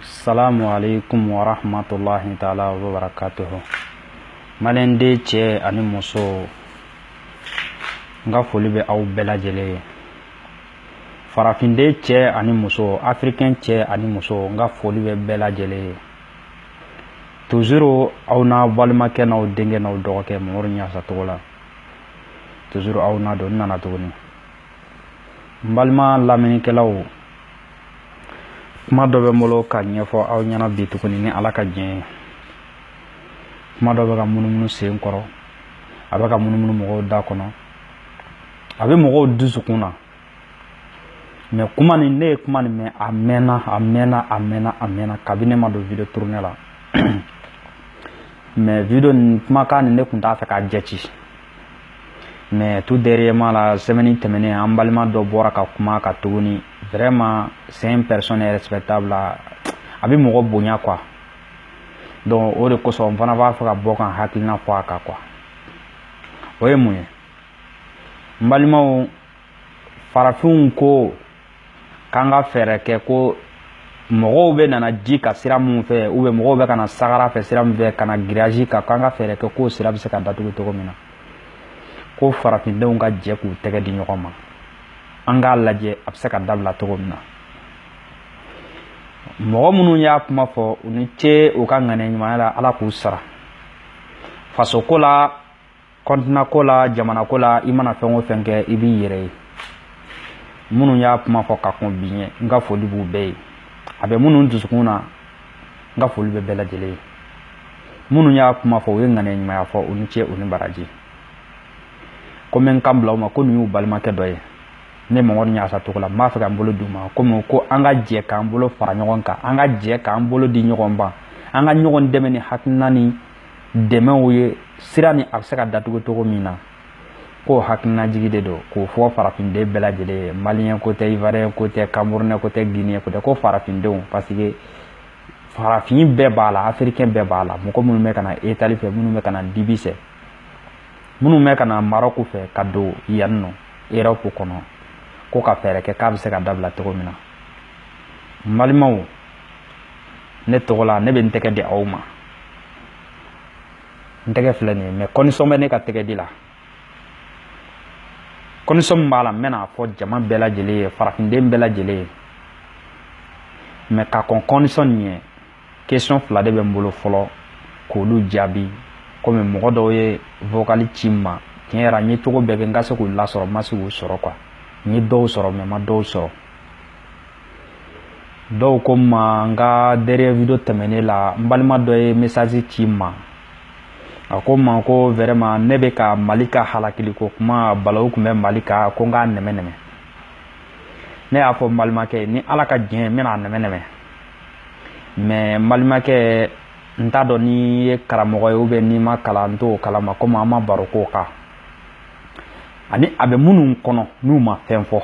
salamu alaikum wa rahmatullahi ta'ala wa barakatuhu maliden cɛ ani muso n ka foli bɛ aw bɛɛ lajɛlen ye farafinden cɛ ani muso afirikɛn cɛ ani muso n ka foli bɛ bɛɛ lajɛlen ye tuzuru aw n'aw balimakɛ n'aw denkɛ n'aw dɔgɔkɛ mamadu ɲasa togola tuzuru aw n'a don n nana tuguni n balima lamɛnnikɛlaw kuma dɔ bɛ n bolo ka ɲɛfɔ aw ɲɛna bi tuguni ni ala ka diɲɛ ye kuma dɔ bɛ ka munumunu sen kɔrɔ a bɛ ka munumunu mɔgɔw da kɔnɔ a bɛ mɔgɔw dusukun na mɛ kuma nin ne ye kuma nin mɛn a mɛnna a mɛnna a mɛnna a mɛnna kabini ne ma don video tournée la mɛ video nin kumakan nin ne tun t'a fɛ k'a jate mɛ tout dernièrement là sɛmɛni tɛmɛnen an balima dɔ bɔra ka kuma ka tuguni vraiment c'est une personne respectable a bɛ mɔgɔ bonya quoi donc o de kosɔn n fana b'a fɛ ka bɔ ka n hakilina fɔ a kan quoi o ye mun ye n balimaw farafinw ko k'an ka fɛɛrɛ kɛ ko mɔgɔw bɛ nana ji kan sira minnu fɛ ou bien mɔgɔw bɛ ka na sahara fɛ sira min fɛ ka na grillage kan k'an ka fɛɛrɛ kɛ k'o sira bɛ se ka datugu cogo min na ko farafindenw ka jɛ k'u tɛgɛ di ɲɔgɔn ma an k'a lajɛ a bɛ se ka dabila cogo min na mɔgɔ minnu y'a kuma fɔ u ni ce u ka ŋaniya ɲumanya la ala k'u sara fasoko la kɔntinan ko la jamana ko la i mana fɛn o fɛn kɛ i b'i yɛrɛ ye minnu y'a kuma fɔ ka kɔn bi ɲɛ n ka foli b'u bɛɛ ye a bɛ minnu dusukun na n ka foli bɛ bɛɛ lajɛlen ye minnu y'a kuma fɔ u ye ŋaniya ɲumanya fɔ u ni ce u ni baraji ko n bɛ n kan bila u ma ko nin y'u balimakɛ dɔ ye ne mamadu ɲasa togola n b'a fɛ ka n bolo d'u ma komi ko an ka jɛ k'an bolo fara ɲɔgɔn kan an ka jɛ k'an bolo di ɲɔgɔn ma an ka ɲɔgɔn dɛmɛ ni hakilina ni dɛmɛw ye sira nin a bɛ se ka datugu cogo min na k'o hakilinajigi de don k'o fɔ farafinden bɛɛ lajɛlen ye maliyɛn ko tɛ ivuwariyɛn ko tɛ kamerunɛ ko tɛ giniyɛn ko tɛ ko farafindenw parce que farafin bɛɛ b'a la afirikɛn bɛɛ b'a la mɔgɔ minnu bɛ ka na itali fɛ minnu bɛ ka na libi fɛ minnu bɛ ka na marɔku fɛ ka don yan nɔ erɔpu kɔnɔ ko ka fɛɛrɛ kɛ k'a bɛ se ka dabila cogo min na n balimaw ne tɔgɔ la ne bɛ n tɛgɛ di aw ma n tɛgɛ filɛ nin ye mɛ kɔndisɔn bɛ ne ka tɛgɛ di la kɔndisɔn min b'a la n bɛn'a fɔ jama bɛɛ lajɛlen ye farafinden bɛɛ lajɛlen ye mɛ ka kɔn kɔndisɔn nin ɲɛ kesiyɔn fila de bɛ n bolo fɔlɔ k'olu jaabi komi mɔgɔ dɔw ye vokali ci n ma tiɲɛ yɛrɛ n ye cogo bɛɛ kɛ n ka se k'u lasɔrɔ n ma se k'u sɔrɔ kuwa n ye dɔw sɔrɔ mɛ n ma dɔw sɔrɔ dɔw ko n ma n ka dernier video tɛmɛnen la n balima dɔ ye message ci n ma a ko n ma ko vraiment ne bɛ ka mali ka halakiliko kuma balawu tun bɛ mali kan ko n k'a nɛmɛ nɛmɛ ne y'a fɔ n balimakɛ ni ala ka diɲɛ n bɛna a nɛmɛ nɛmɛ mais n balimakɛ n t'a dɔn n'i ye karamɔgɔ ye ou bien n'i ma kalan n t'o kalama komi an ma baro k'o kan ani a bɛ minnu kɔnɔ n'u ma fɛn fɔ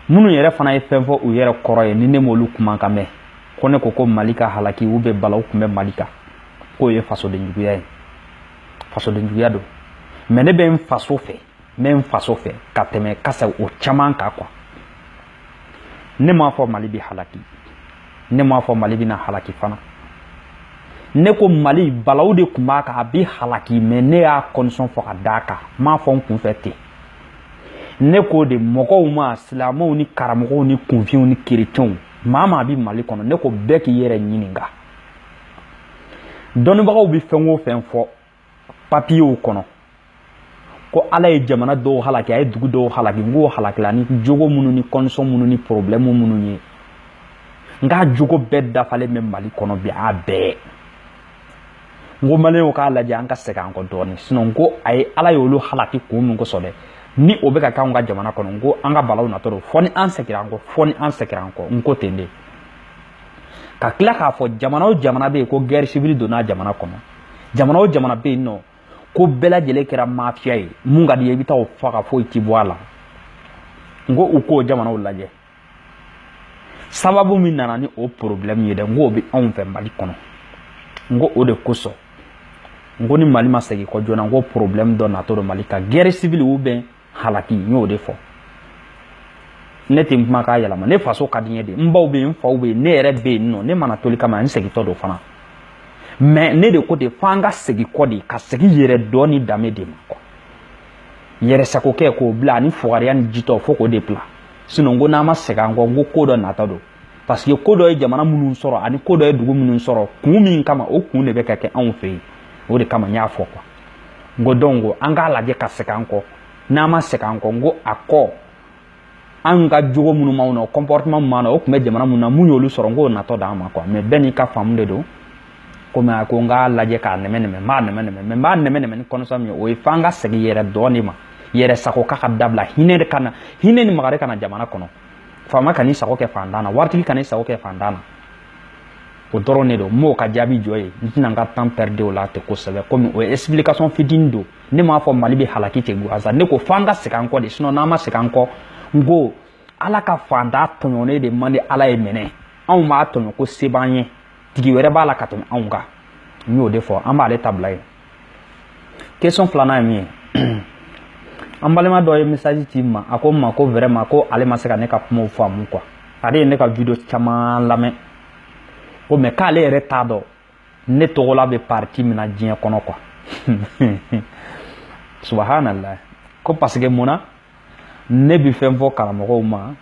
minnu yɛrɛ fana ye fɛn fɔ u yɛrɛ kɔrɔ ye ni ne m'olu kumakan mɛn ko ne ko ko mali ka halaki ou bien balawu tun bɛ mali kan k'o ye fasodenjuguya ye fasodenjuguya don mais ne bɛ n faso fɛ n bɛ n faso fɛ ka tɛmɛ kasa o caman kan quoi ne m'a fɔ mali bɛ halaki ne m'a fɔ mali bɛna halaki fana ne ko mali balawu de tun b'a kan a bɛ halaki mais ne y'a condition fɔ ka d'a kan n m'a fɔ n kunfɛ ten ne k'o de mɔgɔw ma silamɛw ni karamɔgɔw ni kunfinw ni kerecɛnw maa maa bɛ mali kɔnɔ ne ko bɛɛ k'i yɛrɛ ɲininka dɔnnibagaw bɛ fɛn o fɛn fɔ papiyew kɔnɔ ko ala ye jamana dɔw halaki a ye dugu dɔw halaki n k'o halakila ni jogo minnu ni condition minnu ni problème minnu ye n k'a jogo bɛɛ dafalen bɛ mali kɔnɔ bi a bɛɛ n ko maliyɛnw k'a lajɛ an ka segin an kɔ dɔɔnin sinon n ko a ye ala y'olu halaki kun min kosɔn dɛ ni o bɛ ka k'anw ka jamana kɔnɔ n ko an ka balawu natɔ don fɔ ni an segira an kɔ fɔ ni an segira an kɔ n ko ten de ka tila k'a fɔ jamana o jamana bɛ yen ko guerre civile donna jamana kɔnɔ jamana o jamana bɛ yen nɔ ko bɛɛ lajɛlen kɛra mafiya ye mun ka di ye i bɛ taa o faga foyi ti bɔ a la n ko u k'o jamanaw lajɛ sababu min nana ni o problème ye dɛ n k'o bɛ anw fɛ mali kɔnɔ n ko o de kosɔn n ko ni mali ma segin kɔ joona n ko problème dɔ natɔ don mali kan guerre civile ou bien halaki n y'o de fɔ ne tɛ n kuma k'a yɛlɛma ne faso ka di n ye de n baw bɛ yen n faw bɛ yen ne yɛrɛ bɛ yen nɔ ne ma na toli kama n segintɔ don fana mais ne de ko ten f'an ka segin kɔ de ka segin yɛrɛdɔn ni danbe de ma quoi yɛrɛsagokɛ k'o bila ani fugariya ni jitɔ fo k'o de bila sinon n ko n'an ma segin an kɔ n ko ko dɔ natɔ don parce que ko dɔ ye jamana minnu sɔrɔ ani ko dɔ ye dugu minnu sɔrɔ kun min kama o kun de bɛ ka kɛ anw fɛ yen o de kama n y'a fɔ quoi n ko donc an k'a lajɛ ka segin an kɔ n'an ma segin an kɔ n ko a kɔ an ka jogo minnu b'anw na o comportement min b'an na o tun bɛ jamana minnu na mun y'olu sɔrɔ n k'o natɔ d'an ma quoi mais bɛɛ n'i ka faamu de don komi a ko n k'a lajɛ k'a nɛmɛ nɛmɛ n b'a nɛmɛ nɛmɛ mais n b'a nɛmɛ nɛmɛ ni condition min ye o ye f'an ka segin yɛrɛdɔn de ma yɛrɛ sago kɛ ka dabila hinɛ de ka na hinɛ ni makari ka na jamana kɔnɔ faama kan'i sago kɛ fantan na waritigi kan'i sago kɛ fantan na o dɔrɔn de don n b'o ka jaabi jɔ yen n tɛna n ka temps perdre o la ten kosɛbɛ komi o ye explication fitinin don ne m'a fɔ mali bɛ halaki ten gwansan ne ko f'an ka segin an kɔ de sinon n'an ma segin an kɔ n ko ala ka fantan tɔɲɔnen de man di ala ye mais n'anw b'a tɔɲɔ ko se b'an ye tigi wɛrɛ b'a la ka tɛmɛ anw kan n y'o de fɔ an b'ale ta bila yen question filanan ye min ye an balima dɔ ye message ci n ma a ko n ma ko vraiment ko ale ma se ka ne ka kumaw faamu quoi ale ye ne ka video caman lamɛn ko mais k'ale yɛrɛ t'a dɔn ne tɔgɔla bɛ parti min na diɲɛ kɔnɔ quoi subhanallahi ko parce que mun na ne bɛ fɛn fɔ karamɔgɔw ma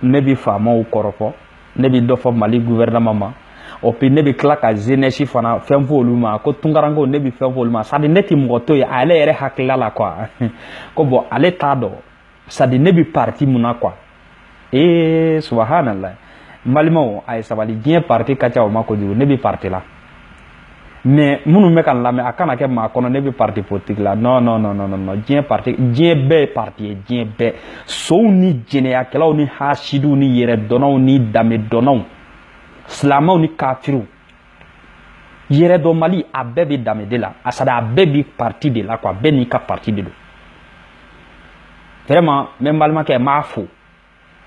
ne bɛ faamaw kɔrɔfɔ ne bɛ dɔ fɔ mali gouvernement ma et puis ne bɛ tila ka jeunesse fana fɛn fɔ olu ma ko tunkarankew ne bɛ fɛn fɔ olu ma c'est-à-dire ne tɛ mɔgɔ to yen ale yɛrɛ hakilila la quoi ko bon ale t'a dɔn c'est-à-dire ne bɛ parti mun na quoi ee subhanallahi n balimaw a ye sabali diɲɛ parti ka ca o ma kojugu ne bɛ parti la mais minnu bɛ ka n lamɛn a kana kɛ maa kɔnɔ ne bɛ parti politique la non non non non non diɲɛ parti diɲɛ bɛɛ ye parti ye diɲɛ bɛɛ sonw ni jɛnɛyakɛlaw ni hasidiw ni yɛrɛdɔnnaw ni danbedɔnnaw silamɛw ni kafiriw yɛrɛdɔnbali a bɛɛ bɛ danbe de la a c'est-à-dire a bɛɛ bi parti de la quoi bɛɛ n'i ka parti de don vraiment n bɛ n balimakɛ n b'a fo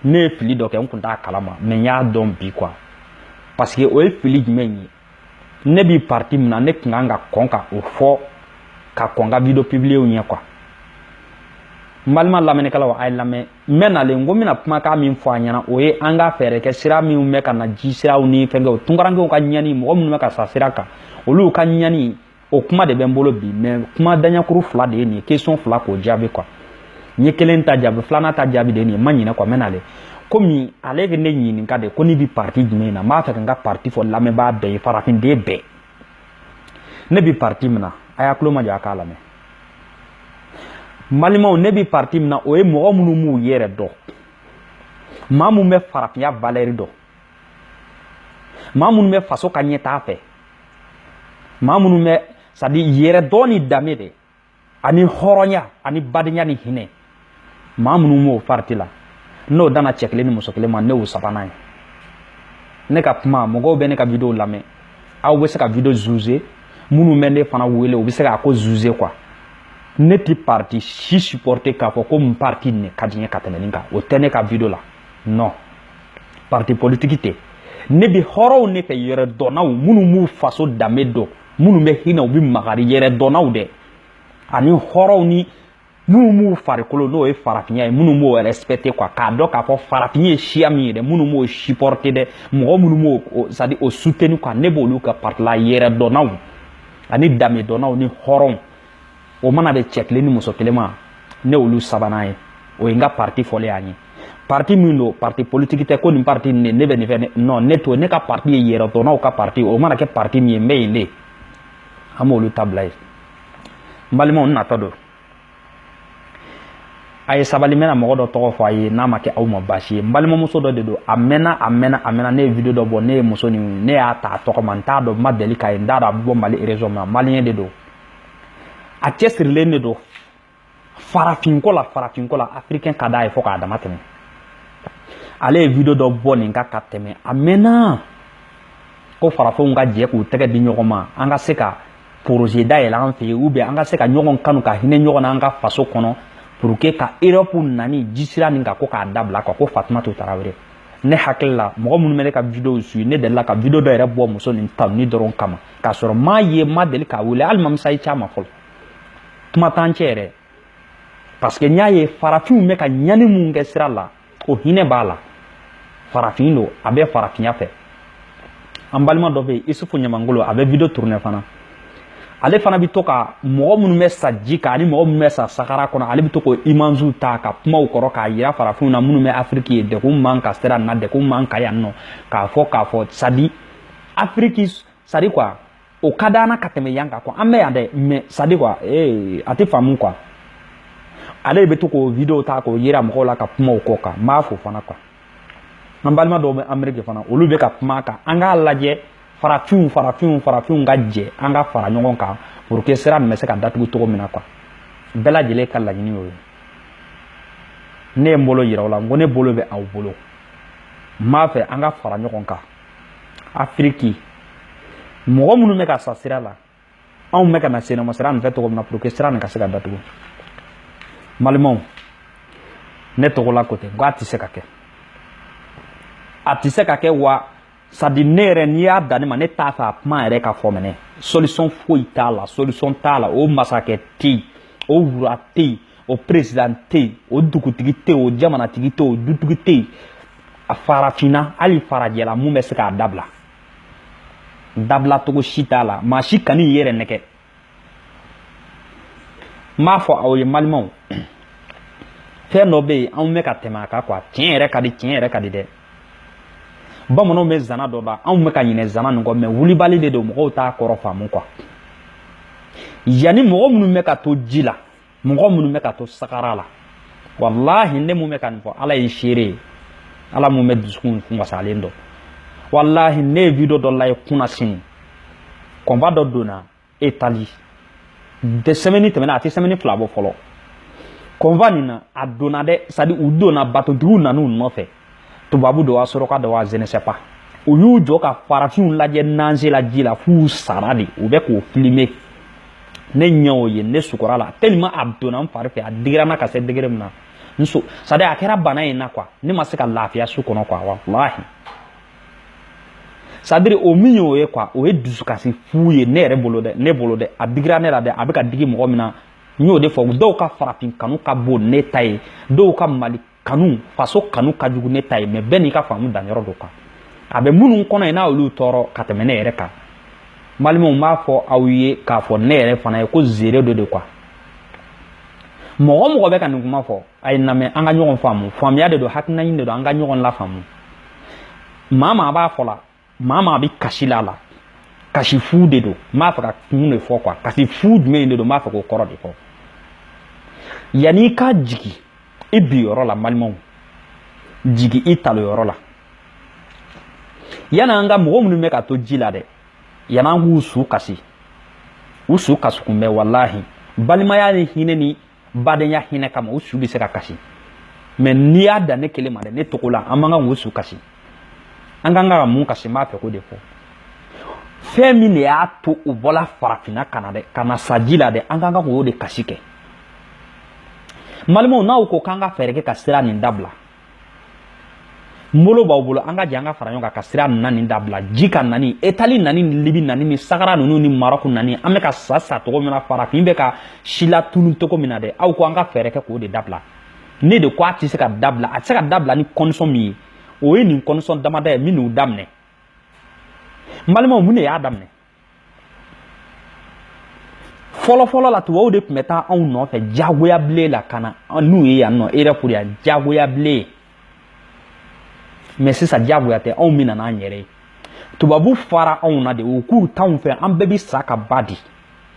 ne ye fili dɔ kɛ n tun t'a kalama mais n y'a dɔn bi quoi parce que o ye fili jumɛn ye ne bi parti min na ne tun kan ka kɔn ka o fɔ ka kɔn ka video publier ɲɛ quoi n balima lamɛnnikɛlaw a ye lamɛn n bɛ nalen ko n bɛna kumakan min fɔ a ɲɛna o ye an ka fɛɛrɛ kɛ sira minnu bɛ ka na ji siraw ni fɛnkɛw tunkarankew ka ɲani mɔgɔ minnu bɛ ka sa sira kan olu ka ɲani o kuma de bɛ n bolo bi mais kuma daɲakuru fila de ye nin ye question fila k'o jaabi quoi n ye kelen ta jaabi filanan ta jaabi de ye nin ye n ma ɲinɛ quoi n bɛ nalen komi ale ye ne ɲininka de ko ne bi parti jumɛn na n b'a fɛ ka n ka parti fɔ lamɛnbaa bɛɛ ye farafinden bɛɛ ne bi parti min na a y'a tulo majɔ a k'a lamɛn n balimaw ne bi parti min na o ye mɔgɔ minnu b'u yɛrɛ dɔn maa minnu bɛ farafinya valeur dɔn maa minnu bɛ faso ka ɲɛtaa fɛ maa minnu bɛ c'est-à-dire yɛrɛdɔn ni danbe de ani hɔrɔnya ani badenya ni hinɛ maa minnu m'o parti la n'o dana cɛ kelen ni muso kelen ma ne y'o sabanan ye ne ka kuma mɔgɔw bɛ ne ka video lamɛn aw bɛ se ka video juger minnu bɛ ne fana wele u bɛ se k'a ko juger quoi ne ti parti si supporter k'a fɔ ko n parti ne ka di n ye ka tɛmɛ nin kan o tɛ ne ka video la non parti politiki tɛ ne bi hɔrɔnw ne fɛ yɛrɛdɔnnaw minnu b'u faso danbe dɔn minnu bɛ hinɛ u bɛ makari yɛrɛdɔnnaw dɛ ani hɔrɔnw ni minnu b'u farikolo n'o ye farafinya ye minnu b'o respecter quoi k'a dɔn k'a fɔ farafin ye siya min ye dɛ minnu b'o supporter dɛ mɔgɔ minnu b'o c'est à dire o soutenir quoi ne b'olu ka parti la yɛrɛdɔnnaw ani danbedɔnnaw ni hɔrɔnw o mana bɛn cɛ kelen ni muso kelen ma ne olu sabanan ye o ye n ka parti fɔlen y'an ye parti min don parti politiki tɛ ko nin parti nin ne bɛ nin fɛ non ne to ne ka parti ye yɛrɛdɔnnaw ka parti o mana kɛ parti min ye n bɛ yen de an b'olu ta bila yen n balimaw n natɔ don a ye sabali n bɛna mɔgɔ dɔ tɔgɔ fɔ a ye n'a ma kɛ aw ma baasi ye n balimamuso dɔ de don a mɛnna a mɛnna a mɛnna ne ye video dɔ bɔ ne ye muso nin ne y'a ta a tɔgɔ ma n t'a dɔn n ma deli k'a ye n t'a dɔn a bɛ bɔ mali région min na maliyɛn de don a cɛsirilen de don farafinko la farafinko la afirikɛn ka d'a ye fo k'a damatɛmɛ ale ye video dɔ bɔ nin kan ka tɛmɛ a mɛnna ko farafinw ka jɛ k'u tɛgɛ di ɲɔgɔn ma an ka se ka projet dayɛlɛ an fɛ yen ou bien an ka se ka ɲɔgɔn kanu ka hinɛ ɲɔgɔn na an ka faso kɔnɔ pour que ka erɔpu nani jisira nin ka ko k'a dabila ka ko fatumata tarawele ne hakili la mɔgɔ minnu bɛ ne ka videow suivi ne delila ka video dɔ yɛrɛ bɔ muso nin tanuni dɔrɔn kama k'a sɔrɔ n m'a ye n ma deli k'a wele hali n ma message c'a ma fɔlɔ kuma t'an cɛ yɛrɛ parce que n y'a ye farafinw bɛ ka ɲani min kɛ sira la o hinɛ b'a la farafin don a bɛ farafinya fɛ an balima dɔ bɛ yen isufu ɲamangolo a bɛ video tourner fana ale fana bɛ to ka mɔgɔ minnu bɛ sa ji kan ani mɔgɔ minnu bɛ sa sahara kɔnɔ ale bɛ to k'o images ta ka kuma o kɔrɔ k'a yira farafinw na minnu bɛ afiriki yen degun man ka sira na degun man ka yan nɔ k'a fɔ k'a fɔ c'est à dire afiriki c'est à dire quoi o ka d'an na ka tɛmɛ yan kan quoi an bɛ yan dɛ mais c'est à dire quoi ee a tɛ faamu quoi ale de bɛ to k'o video ta k'o yira mɔgɔw la ka kuma o kɔ kan n b'a fo fana quoi an balima dɔw bɛ ameriki fana olu bɛ ka kuma a kan an k'a lajɛ farafinw farafinw farafinw ka jɛ an ka fara ɲɔgɔn kan pour que sira nin bɛ se ka datugu cogo min na quoi bɛɛ lajɛlen ka laɲini y'o ye ne ye n bolo yira aw la n ko ne bolo bɛ aw bolo n b'a fɛ an ka fara ɲɔgɔn kan afiriki mɔgɔ minnu bɛ ka sa sira la anw bɛ ka na senama sira nin fɛ cogo min na pour que sira nin ka se ka datugu malimaw ne tɔgɔ la ko tɛ n ko a tɛ se ka kɛ a tɛ se ka kɛ wa sadi ne yɛrɛ n'i y'a dan ne ma ne t'a fɛ a kuma yɛrɛ ka fɔ mɛnɛ solution foyi t'a la solution t'a la o masakɛ tɛ yen o roi tɛ yen o président tɛ yen o dugutigi tɛ yen o jamanatigi tɛ yen o dutigi tɛ yen a farafinna hali farajɛla mun bɛ se k'a dabila dabilacogo si t'a la maa si kan'i yɛrɛ nɛgɛn n b'a fɔ aw ye malimaw fɛn dɔ bɛ yen anw bɛ ka tɛmɛ a kan kuwa tiɲɛ yɛrɛ ka di tiɲɛ yɛrɛ ka di dɛ bamananw bɛ zana dɔ da anw bɛ ka ɲinɛ zana nin kɔ mɛ wulibali de don mɔgɔw t'a kɔrɔ faamu kuwa yanni mɔgɔ minnu bɛ ka to ji la mɔgɔ minnu bɛ ka to sahara la walahi ne mun bɛ ka nin fɔ ala ye seere ye ala mun bɛ dusukun wasalen dɔn walahi ne ye video dɔ lajɛ kunnasini convoi dɔ donna itali dɛ sɛmɛni tɛmɛna a tɛ sɛmɛni fila bɔ fɔlɔ convoi nin na a donna dɛ sadi u donna batotigiw nan'u nɔfɛ tubabu don wa sɔrɔka don wa je ne sais pas u y'u jɔ ka farafinw lajɛ nager la ji la f'u sara dɛ u bɛ k'o filime ne ɲɛ o ye ne sukɔrɔ la tellement a donna n fari fɛ a digira n na ka se degré min na n so sadi a kɛra bana ye n na quoi ne ma se ka lafiya su kɔnɔ quoi walahi sadiri o min y'o ye quoi o ye dusukasi fu ye ne yɛrɛ bolo dɛ ne bolo dɛ a digira ne la dɛ a bɛ ka digi mɔgɔ min na n y'o de fɔ dɔw ka farafin kanu ka bon ne ta ye dɔw ka mali kanu faso kanu ka jugu ne ta ye mɛ bɛɛ n'i ka faamu danyɔrɔ don kan a bɛ minnu kɔnɔ ye n'a olu tɔɔrɔ ka tɛmɛ ne yɛrɛ kan malimaw n b'a fɔ aw ye k'a fɔ ne yɛrɛ fana ye ko seere dɔ de kuwa mɔgɔ o mɔgɔ bɛ ka nin kuma fɔ a ye n lamɛn an ka ɲɔgɔn faamu faamuya de don hakilina ɲini de don an ka ɲɔgɔn lafaamu maa maa b'a fɔ la maa maa bɛ kasi la a la kasi fu de don n b'a fɛ k'a kun de fɔ kuwa kasi fu jumɛn de don n b'a fɛ k'o kɔrɔ de fɔ yanni i ka jigin i bin yɔrɔ la malimaw jigin i talon yɔrɔ la yan'an ka mɔgɔ minnu bɛ ka to ji la dɛ yan'an k'u su kasi u su kasi kun bɛ walahi balimaya ni hinɛ ni badenya hinɛ kama u su bɛ se ka kasi mɛ n'i y'a dan ne kelen ma dɛ ne tɔgɔ la an man kan k'u su kasi an kan ka mun kasi n b'a fɛ k'o de fɔ fɛn min de y'a to u bɔla farafinna ka na dɛ ka na sa ji la dɛ an kan ka k'o de kasi kɛ malimaw n'aw ko k'an ka fɛɛrɛ kɛ ka sira nin dabila n bolo b'aw bolo an ka jɛ an ka fara ɲɔgɔn kan ka sira nana nin dabila ji kan nani itali nani ni libi nani ni sahara ninnu ni marɔku nani an bɛ ka sa sa cogo min na farafin bɛ ka silatunu cogo min na dɛ aw ko an ka fɛɛrɛ kɛ k'o de dabila ne de ko a tɛ se ka dabila a tɛ se ka dabila ni kɔndisɔn min ye o ye nin kɔndisɔn damada ye min n'u daminɛ n balimaw mun de y'a daminɛ fɔlɔfɔlɔ la tubabuw de tun bɛ taa anw nɔfɛ jagoya bilen la ka na n'u ye yan nɔ erɔpu yan jagoya bilen mɛ sisan jagoya tɛ anw bɛ na n'an yɛrɛ ye tubabu fara anw na de u k'u t'anw fɛ an bɛɛ bɛ sa ka ba di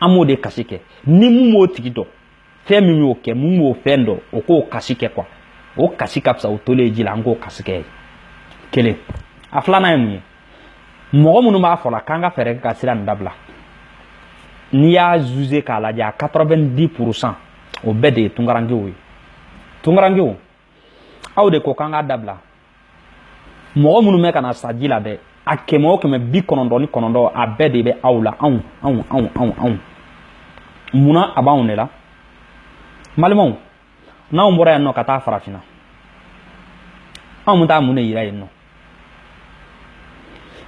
an b'o de kasi kɛ ni mun b'o tigi dɔn fɛn min y'o kɛ mun b'o fɛn dɔn o k'o kasi kɛ kuwa o kasi ka fisa o tolen ji la an k'o kasi kɛ kelen a filanan ye mun ye mɔgɔ minnu b'a fɔ la k'an ka fɛɛrɛ kɛ ka sira nin dabila n'i y'a zuze k'a lajɛ a 90 pourcent o bɛɛ de ye tunkarankew ye tunkarankew aw de ko k'an k'a dabila mɔgɔ minnu bɛ ka na sa ji la dɛ a kɛmɛ o kɛmɛ bi kɔnɔntɔn ni kɔnɔntɔn a bɛɛ de bɛ aw la anw anw anw anw anw munna a b'anw de la n balimaw n'anw bɔra yan nɔ ka taa farafinna anw bɛ taa mun de yira yen nɔ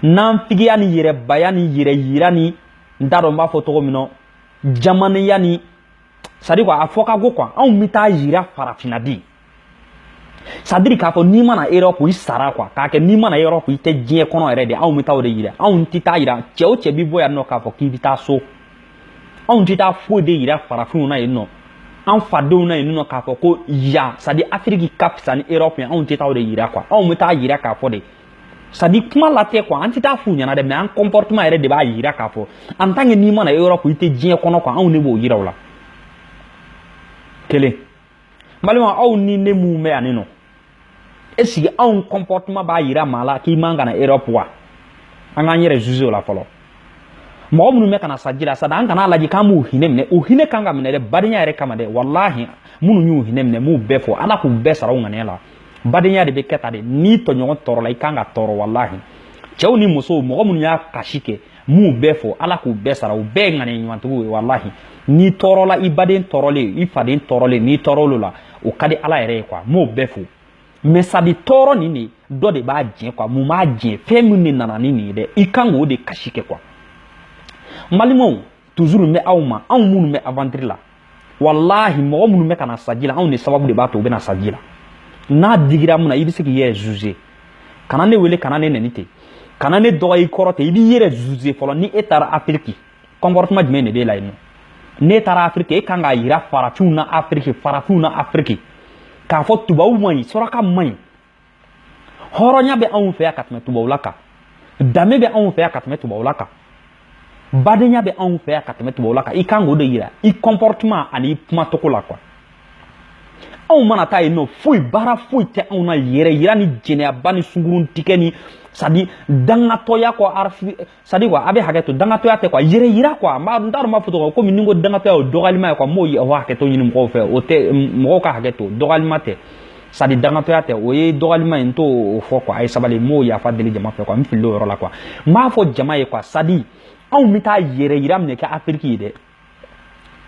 nafigiya ni yɛrɛbaya ni yɛrɛyira ni n t'a dɔn n b'a fɔ cogo min na jamanenya ni sadi a fɔ ka go kuwa anw bɛ taa yira farafinna di sadiri k'a fɔ n'i ma na erɔpu i sara kuwa k'a kɛ n'i ma na erɔpu i tɛ diɲɛ kɔnɔ yɛrɛ de anw bɛ taa o de yira anw tɛ taa yira cɛ o cɛ bɛ bɔ yan nɔ k'a fɔ k'i bɛ taa so anw tɛ taa foyi de yira farafinw na yen nɔ an fadenw na yen nɔ k'a fɔ ko yan sadi afiriki ka fisa ni erɔpu ye anw tɛ taa o de yira kuwa anw bɛ taa yira k'a fɔ de sadi kuma la tɛ kuwa an tɛ taa f'u ɲɛna dɛ mɛ an kɔnpɔrtema yɛrɛ de b'a yira k'a fɔ an tan ke n'i ma na erɔpu i tɛ diɲɛ kɔnɔ kuwa anw de b'o yira u la kelen balima aw ni ne minnu bɛ yan nɔ ɛsike anw kɔnpɔrtema b'a yira maa la k'i man ka na erɔpu wa an k'an yɛrɛ zuze o la fɔlɔ mɔgɔ minnu bɛ ka na sa ji la sadi an kana lajɛ k'an b'u hinɛ minɛ u hinɛ kan ka minɛ dɛ badenya yɛrɛ kama dɛ walahi minnu y'u hinɛ minɛ m'u bɛɛ fo ala k'u bɛɛ sara u ŋaniya la badenya de bɛ kɛ tan de n'i tɔɲɔgɔn tɔɔrɔla i kan ka tɔɔrɔ walahi cɛw ni musow mɔgɔ minnu y'a kasi kɛ m'u bɛɛ fo ala k'u bɛɛ sara u bɛɛ ye ŋaniya ɲumantigiw ye walahi n'i tɔɔrɔla i baden tɔɔrɔlen i faden tɔɔrɔlen n'i tɔɔrɔl'o la o ka di ala yɛrɛ ye kuwa m'o bɛɛ fo mɛ sadi tɔɔrɔ nin de dɔ de b'a jɛ kuwa mun b'a jɛ fɛn min de nana ni nin ye dɛ i kan k'o de kasi kɛ kuwa n balimaw toujours bɛ aw ma anw minnu bɛ aventure la walahi mɔgɔ minnu bɛ ka na sa ji la anw de sababu de b'a to u bɛ na sa ji la n'a digira mun na i bɛ se k'i yɛrɛ juger kana ne wele kana ne nɛni ten kana ne dɔgɔ i kɔrɔ ten i b'i yɛrɛ juger fɔlɔ ni e taara afiriki comportement jumɛn de b'e la yen nɔ n'e taara afiriki e kan k'a yira farafinw na afiriki farafinw na afiriki k'a fɔ tubabuw man ɲi suraka man ɲi hɔrɔnya bɛ anw fɛ yan ka tɛmɛ tubabula kan danbe bɛ anw fɛ yan ka tɛmɛ tubabula kan badenya bɛ anw fɛ yan ka tɛmɛ tubabula kan i kan k'o de yira i comportement ani i kumacogo la quoi anw mana taa yen nɔ foyi baara foyi tɛ anw na yɛrɛ yira ni jɛnɛyaba ni sungurun tigɛ ni c'est à dire dangatɔya kɔ c'est à dire quoi a bɛ hakɛ to dangatɔya tɛ quoi yɛrɛ yira quoi mais n t'a dɔn m'a fɔ cogo komi ni n ko dangatɔya o dɔgɔyalima ye quoi m'o ye o hakɛ to ɲini mɔgɔw fɛ o tɛ mɔgɔw ka hakɛ to dɔgɔyalima tɛ c'est à dire dangatɔya tɛ o ye dɔgɔyalima ye n t'o fɔ quoi a ye sabali m'o yafa deli jama fɛ quoi n filila o yɔrɔ la quoi n b'a fɔ jama ye quoi c'est à dire anw bɛ taa yɛrɛ yira min de kɛ afiriki yen dɛ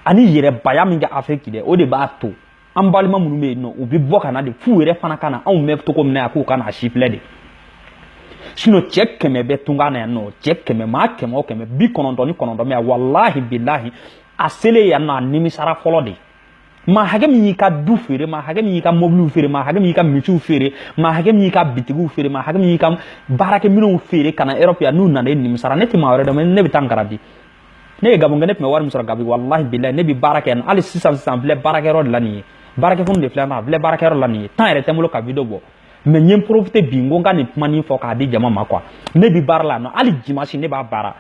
ani yɛrɛbaya min kɛ afiriki dɛ o de b'a to an balima minnu bɛ yen nɔ u bɛ bɔ ka na de f'u yɛrɛ fana ka na anw bɛ cogo min na yan k'u ka na a sifilɛ de sinon cɛ kɛmɛ bɛ tunga na yan nɔ cɛ kɛmɛ maa kɛmɛ o kɛmɛ bi kɔnɔntɔn ni kɔnɔntɔn bɛ yan walahi bilahi a selen yan nɔ a nimisara fɔlɔ de maa hakɛ min y'i ka du feere maa hakɛ min y'i ka mɔbiliw feere maa hakɛ min y'i ka misiw feere maa hakɛ min y'i ka bitigiw feere maa hakɛ min y'i ka baarakɛminɛnw feere ka na erɔpu yan n'u nana e nimisara ne tɛ maa wɛrɛ dɔn ne bɛ taa n garadi ne ye gabon kɛ ne tun bɛ wari min sɔrɔ gabon walahi bilahi ne bɛ baara kɛ yan hali sisan sisan n filɛ baarakɛyɔrɔ de la nin ye baarakɛfunu de filɛ n filɛ baarakɛyɔrɔ la nin ye temps yɛrɛ tɛ n bolo ka video bɔ mais n ye n profiter bi n ko n ka nin kumanin fɔ k'a di jama ma quoi ne bɛ baara la yan nɔ hali dimanche ne b'a baara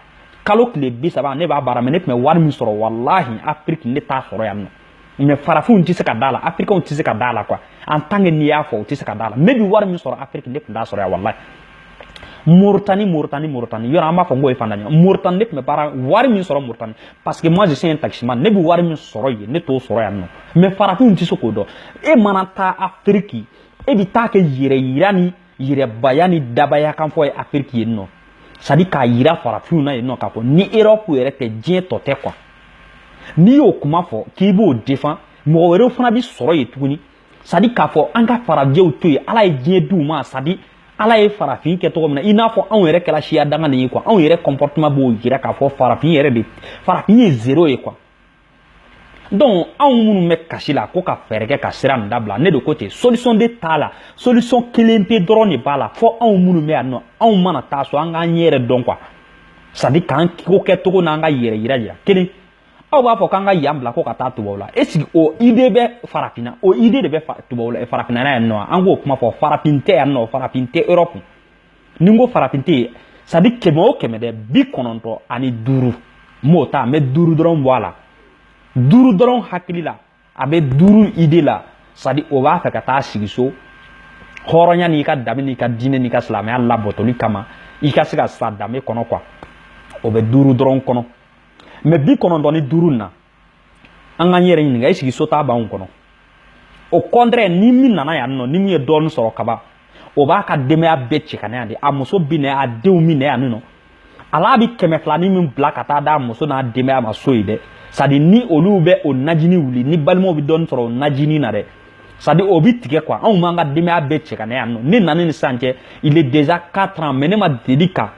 kalo tile bi saba ne b'a baara mais ne tun bɛ wari min sɔrɔ walahi afiriki ne t'a sɔrɔ yan nɔ mais farafinw tɛ se ka da la afirikanw tɛ se ka da la quoi en tant que n'i y'a fɔ u tɛ se ka da la ne bi wari min sɔrɔ afiriki ne tun t'a sɔrɔ yan walayi moritani moritani moritani yɔrɔ an b'a fɔ n k'o ye faantan ɲɔgɔn moritani ne tun bɛ baara wari min sɔrɔ moritani parce que moi je suis un taximan ne bɛ wari min sɔrɔ yen ne t'o sɔrɔ yan nɔ mais farafinw tɛ se k'o dɔn e mana taa afiriki e bɛ taa kɛ yɛrɛ yira ni yɛrɛbaya ni dabaya kan fɔ ye afiriki yen nɔ c'est à dire k'a yira farafinw na yen nɔ k'a fɔ ni erɔpu yɛrɛ tɛ diɲɛ tɔ tɛ quoi n'i y'o kuma fɔ k'i b'o défend mɔgɔ wɛrɛw fana bi sɔrɔ yen tuguni c'est à dire k'a fɔ an ka farajɛw to yen ala ye diɲɛ di u ma c'est à dire ala ye farafin kɛ cogo min na i n'a fɔ anw yɛrɛ kɛra siya danganen ye quoi anw yɛrɛ comportement b'o yira k'a fɔ farafin yɛrɛ de farafin ye zéro ye quoi donc anw minnu bɛ kasi la ko ka fɛɛrɛ kɛ ka sira nin dabila ne de ko ten solution de t'a la solution kelen pe dɔrɔn de b'a la fo anw minnu bɛ yan nɔ anw mana taa so an k'an yɛrɛ dɔn quoi c'est à dire k'an ko kɛcogo n'an ka yɛrɛ yira yira kelen aw b'a fɔ k'an ka yan bila ko ka taa tubabu la est ce que o idée bɛ farafinna o idée de bɛ tubabu la farafinna yan nɔ an k'o kuma fɔ farafin tɛ yan nɔ farafin tɛ europe ni n ko farafin tɛ yen c'est-à-dire kɛmɛ o kɛmɛ dɛ bi kɔnɔntɔn ani duuru n b'o ta n bɛ duuru dɔrɔn bɔ a la duuru dɔrɔn hakili la a bɛ duuru idée la c'est-à-dire o b'a fɛ ka taa sigi so hɔrɔnya n'i ka danbe n'i ka diinɛ n'i ka silamɛya labatoli kama i ka se ka sa danbe kɔnɔ quoi o bɛ duuru dɔrɔn kɔnɔ mais bi kɔnɔntɔn ni duuru na an k'an yɛrɛ ɲininka est-ce que so taa b'anw kɔnɔ au contraire ni min nana yan nɔ ni min ye dɔɔni sɔrɔ kaba o b'a ka denbaya bɛɛ cɛ ka na yan de a muso bi na a denw bi na yan nɔ ala bi kɛmɛ filani min bila ka taa d'a muso n'a denbaya ma so ye dɛ c'est-à-dire ni olu bɛ o najini wuli ni balimaw bɛ dɔɔni sɔrɔ o najini na dɛ c'est-à-dire o bi tigɛ quoi anw b'an ka denbaya bɛɛ cɛ ka na yan nɔ ne nana ni sisan cɛ il est déjà quatre ans mais ne ma deli ka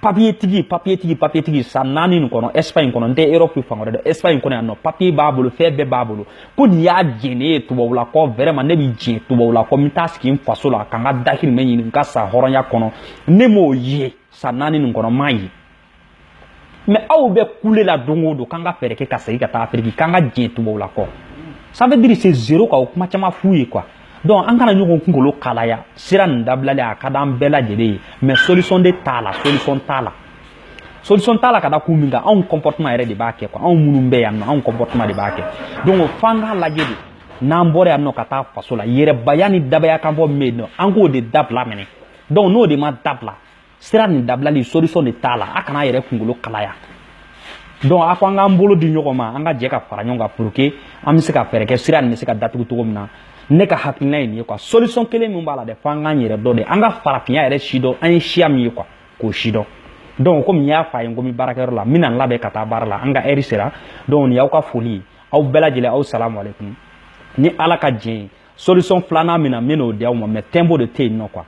papiye tigi papiye tigi papiye tigi san naani nin kɔnɔ ɛsipaɲi kɔnɔ n tɛ erɔpu de dɛ ɛsipaɲi kɔnɔ yan nɔ papiye b'a bolo fɛn bɛɛ b'a bolo ko nin y'a jɛn ne ye tubabula kɔ vraiment ne bɛ jɛn tubabula kɔ n bɛ taa sigi n faso la ka n ka dahirimɛ ɲini n ka sa hɔrɔnya kɔnɔ ne m'o ye san naani nin kɔnɔ n m'a ye mais aw bɛ kule la don o don k'an ka fɛɛrɛ kɛ ka segin ka taa afiriki k'an ka jɛn tubabula kɔ ça veut dire c'est zéro quoi o kuma caman f'u ye quoi donc an kana ɲɔgɔn kunkolo kalaya sira nin dabilali a ka di an bɛɛ lajɛlen ye mais solution de t'a la solution t'a la solution t'a la ka da kun min kan anw comportement yɛrɛ de b'a kɛ quoi anw minnu bɛ yan nɔ anw comportement de b'a kɛ donc f'an k'a lajɛ de n'an bɔra yan nɔ ka taa faso la yɛrɛbaya ni dabaya kan fɔ min bɛ yen nɔ an k'o de dabila minɛ donc n'o de ma dabila sira nin dabilali solution de t'a la a kana a yɛrɛ kunkolo kalaya donc a ko an k'an bolo di ɲɔgɔn ma an ka jɛ ka fara ɲɔgɔn kan pour que an bɛ se ka fɛɛrɛ kɛ sira nin bɛ se ka datugu cogo min na ne ka hakilina ye nin ye quoi solution kelen min b'a la dɛ fo an k'an yɛrɛ dɔn de an ka farafinya yɛrɛ si dɔn an ye siya min ye quoi k'o si dɔn donc comme n y'a fɔ a ye n ko n bɛ baarakɛyɔrɔ la n bɛna n labɛn ka taa baara la an ka heure sera donc nin y'aw ka foli ye aw bɛɛ lajɛlen aw salamu aleykum ni ala ka jɛn ye solution filanan min na n bɛ n'o di aw ma mais tiempo de tɛ yen nɔ quoi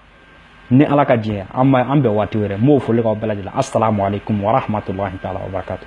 ni ala ka jɛn ye an bɛn waati wɛrɛ n b'o foli k'aw bɛɛ lajɛlen assalamu alaikum warahmatullahi taala wabarakatuh